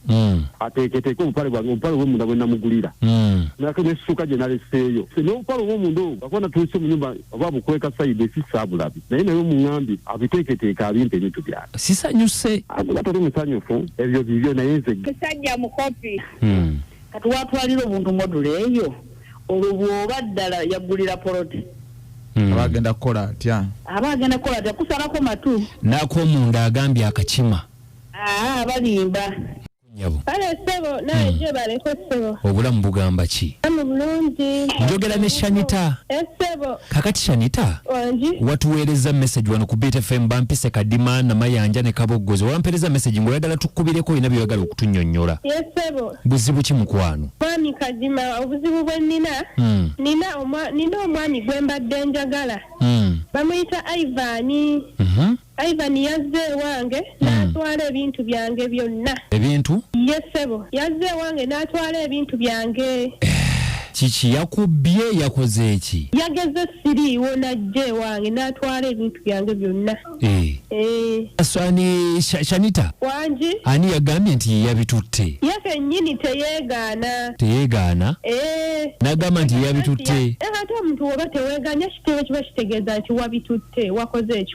mm. ateeketeeke obupale bwange obupale obwomunda bwe namugulira mm. nate nessuka gye naleseeyo n'obupale obwomunda obwo akuba natuuse mu nyumba oba bukweka sayidi esisa abulabi naye naye omuŋambi abiteeketeeke abimpa ebintu byange sisanyuse akuba tali musanyufu ebyo bibyo naye nze kisajja mukopi mm. kati watwalira obuntu modula eyo olwo bwoba ddala yaggulira poloti Hmm. abagenda kukola atya aba agenda kukola atya kusalako matu nakomunda agambye akakima Aa ah, balimba. Nyabo. Kale sebo nawe hmm. je baleko sebo. Obulamu bugamba ki? Amu bulungi. Njogera ne Shanita. Eh, sebo. Kakati Shanita. Wanji. Watuweereza message wano ku Beat FM bampise kadima na mayanja ne kaboggozo. Wampereza message ngo yagala tukubireko ina byagala okutunyonyola. Yes eh, sebo. Buzibu ki mukwano? Mwami kadima obuzibu bwe nina. Mm. Nina omwa nina omwami gwemba denjagala. Mm. Bamuyita Ivan. Mhm. Mm Ivan yazze ewange hmm. n'atwala ebintu byange byonna. Ebintu? Ye ssebo, yazze ewange n'atwala ebintu byange. Eh, kiki yakubbye yakoze eki? Yageze siriiwo n'ajja ewange n'atwala ebintu byange byonna. Eh. Eh. Ani Shanita? Wangi. Ani yagambye nti ye yabitutte? Ye kennyini teyeegaana. Teyeegaana? N'agamba nti ye yabitutte. Ate omuntu oba teweeganya kitebe kiba kitegeeza nti wabitutte wakoze eki?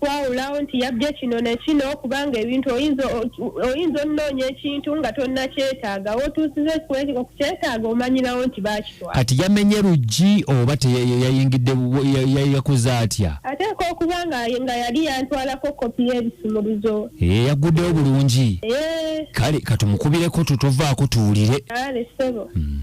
kwawulawo nti yabbye kino ne kino kubanga ebintu oyinza oyinza onoonya ekintu nga tonnakyetaaga wotuusiza okukyetaaga omanyirawo nti bakitwala kati yamenye luggi oba teyayingidde yakoze atya ateeka okuba nga nga yali yantwalako kopi y'ebisumuluzo ee eh, yagguddewo bulungi eh. kale katumukubireko tutovaako tuwulire ale ssebo hmm.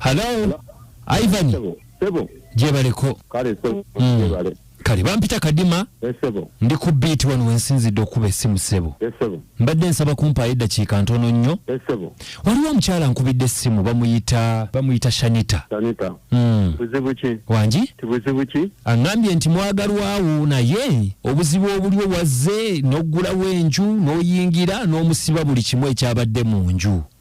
Hello. Ivan. Sebo. Sebo. Jebaleko. Kale sebo. Mm. Jebale. Kale bampita kadima. Eh, sebo. Ndi ku beat wano wensinzidde okuba essimu sebo. Eh, sebo. Mbadde nsaba kumpaayo eddakiika ntono nnyo. Eh, sebo. Waliwo omukyala nkubidde essimu bamuyita bamuyita Shanita. Shanita. Mm. Buzibu ki? Wangi? Tibuzibu ki? Angambye nti mwagalwawo naye obuzibu obuliwo wazze n'oggulawo enju n'oyingira n'omusiba buli kimu ekyabadde mu nju.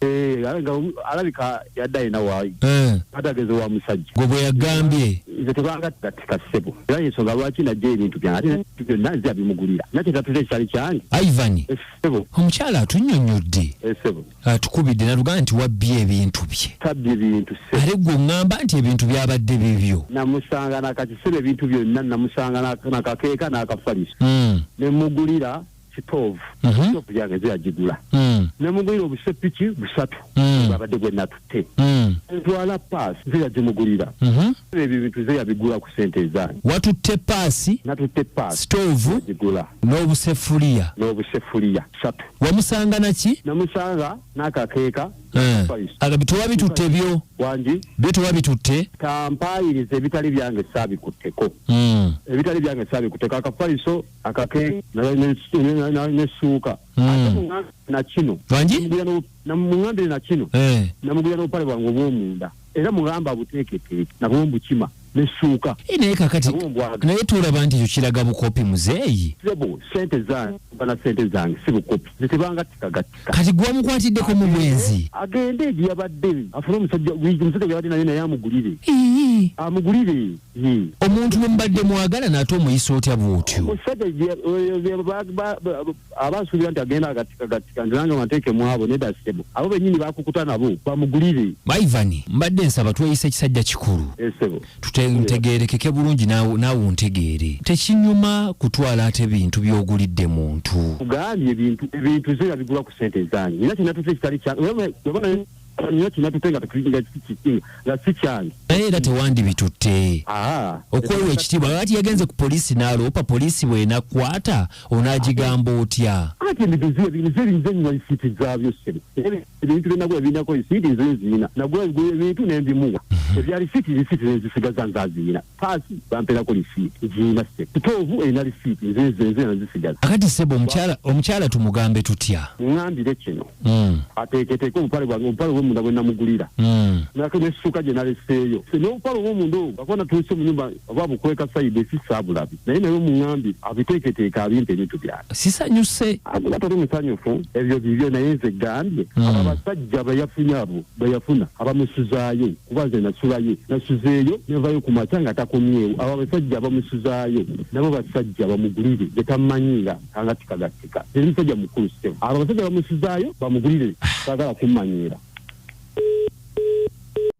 Eh, alabika alabika yadde alina waayi Eh, atageze wa musajja gwe bwe yagambye nze tebangatikatika ssebo era yensonga lwaki najja ebintu byange ate ebintu byonna nze abimugulira nakye tatuze ekitali kyange ivan essebo omukyala atunyonyodde essebo atukubidde natugamba nti wabbye ebintu bye tabbye bintu ssebo ate gwe oŋŋamba nti ebintu byabadde bibyo namusanga nakakisebo ebintu byonna namusanga nak- nakakeeka n'akafaliso Mm. ne mugulira sitoovu Mhm. sitoovu yange nze yagigula Mm. ne mugulira obusepiki busatu Mm. abadde gwe natutte Mm. ntwala paasi nze yagimugulira Mhm. ebyo ebintu nze yabigula ku sente ezange watutte paasi natutte paasi sitoovu yagigula n'obusefuliya n'obusefuliya satu wamusanga naki namusanga n'akakeeka Eh. Paisi. aga bitoba bitutte byo wangi byo toba bitutte tampaayiriza ebitali byange saabikutteko Mm. ebitali byange saabikutteko akafaliso akake nesuuka hmm. nakino namugambire nakino eh. namugulira n'obupale bwange obwomunda era mugamba buteeketeeke nabwo mbukima nesuuka eh, naye kakati naye tulaba nti ekyo kiraga bukopi muzeeyi sente zange bana sente zange si bukopi zetebangatikagati kati gwamukwatiddeko mu bwenzi agende egiyabadde afune omusajja omusajja gyabadde naye naye amugulire amugulire omuntu nomubadde mwagala naate omuyisa otya bwotyo omusajja aba asuubira nti agenda agatikagatika nti nange mateeke mwabo neda sebo abo benyini bakukuta nabo bamugulire maivani mbadde nsaba tweyisa ekisajja kikulu esebo eh, tutegerekeke bulungi naawe ontegeere tekinyuma kutwala ate bintu byogulidde muntu gambye bintu bintu zira bigula ku sente ezange nina kinatuze ekitali kyange nyo kinatuze nga nga si kyange naye era tewandibitutte okwewa ekitiibwa lwaki yagenze ku poliisi naaloopa poliisi bwenakwata onaagigamba otya ate ebintu zira biyinza ebiyinza ennyuma isiiti zaabyo sebe ebintu byonna bwe binako isiiti nze nziina nagula ebigulu ebintu ne mbimuwa mhm. ebyali siiti lisiiti ne nzisigaza nze aziina paasi bamperako lisiiti ziina se kitoovu erina lisiiti nze nze nze nzisigaza akati sebo omukyala omukyala tumugambe tutya ŋambire kino mm. ateeketeeke obupale bwange obupale bwemunda bwe namugulira mm. nako n'essuuka gye naleseeyo n'obupale obwomunda obwo akuba natuuse mu nyumba oba bukweka sayidi esisaabulabi naye naye omuŋambye abiteeketeeke abimpa ebintu byange sisanyuse akuba tali musanyufu ebyo bibyo naye nze gambye hmm. abo abasajja beyafunye abo beyafuna abamusuzaayo kuba nze nasulayo nasuzeeyo nevayo ku makya nga takomyewo abo abasajja abamusuzaayo nabo basajja bamugulire getamanyi nga angatikagatika eri musajja mukulu sitemu abo abasajja bamusuzaayo bamugulire sagala kummanyiira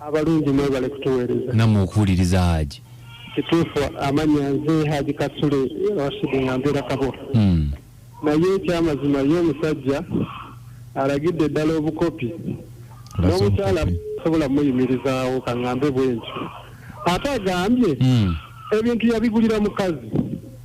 Abalungi mwebale kutuweereza. Namwe okuwuliriza Haji. Kituufu amanya nze Haji Kasule Rashid nga mbeera Kabowa. Mm. Naye ekyamazima ye omusajja alagidde ddala obukopi n'omukyala sobola muyimirizaawo kaŋŋambe bwentyo ate agambye mm. ebintu yabigulira mukazi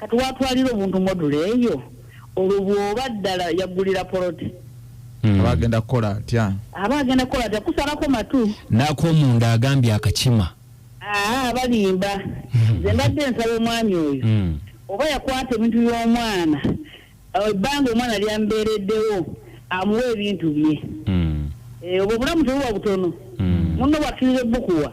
Kati watwalira omuntu module eyo olwo bwoba ddala yaggulira poloti hmm. aba agenda kukola atya aba agenda kukola atya kusalako matu nakomunda agambye akakima aa balimba hmm. ze mbadde nsaba omwami oyo hmm. oba yakwata ebintu by'omwana ebbanga omwana lyambeereddewo amuwa ebintu bye obwo obulamu tebuba butono munno bwakkiriza ebbukuwa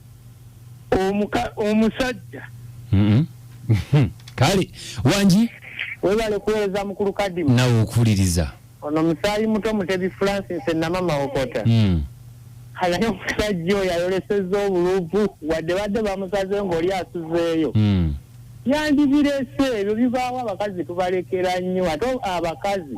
omusajja mm-hmm. kale wangi webale kuweereza mukulu kadimu nawe okuwuliriza ono musaayi muto mutebi francis enamama okota mm. ayali omusajja oyo ayoleseza obuluvu wadde badde bamusaze ngaoli asuzeeyo mm. yandibirese ebyo bibaawo abakazi tubalekera nnyo ate abakazi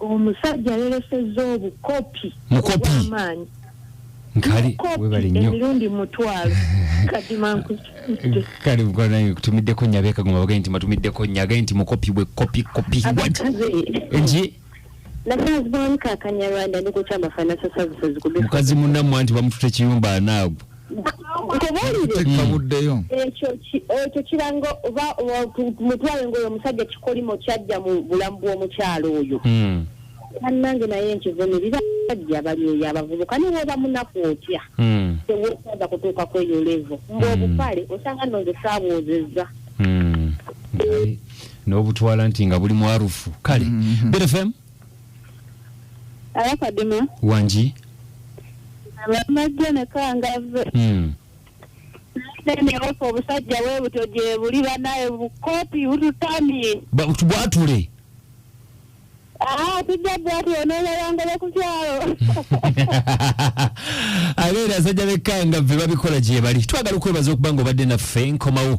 omusajja yalesezza obukopi obwamaanyi emirundi mutwalo kale mukwanange kutumiddeko nyabe kagoma bagee nti matumiddeko nyage nti mukopi bwe kopi kopi nti mukazi munamwe anti bamutute kiyumba anaagwo nkubuulire ekyo kiranga oba mutwale ngaoyo omusajja kikolimo kyajja mu bulamu bw'omukyalo oyo hmm. bannange naye nkivune bibajja bali eyo abavubuka ne woba munaku otya hmm. tewosaza kutuuka kweyo levo ngaobupale hmm. osanga nonze saabwozezza n'obutwala nti nga buli mwarufu kale bfm Aya Kadima. Wangi. Amajja ne kangave. Hmm. Nenewofa obusajja bwe butyo gye buli banaye bukopi bututamye. Bwatule. Ah, tujja bwatule n'oyayangala ku kyalo. Abeera asajja bekkangavve babikola gye bali. Twagala okwebaza okuba ng'obadde naffe nkomawo.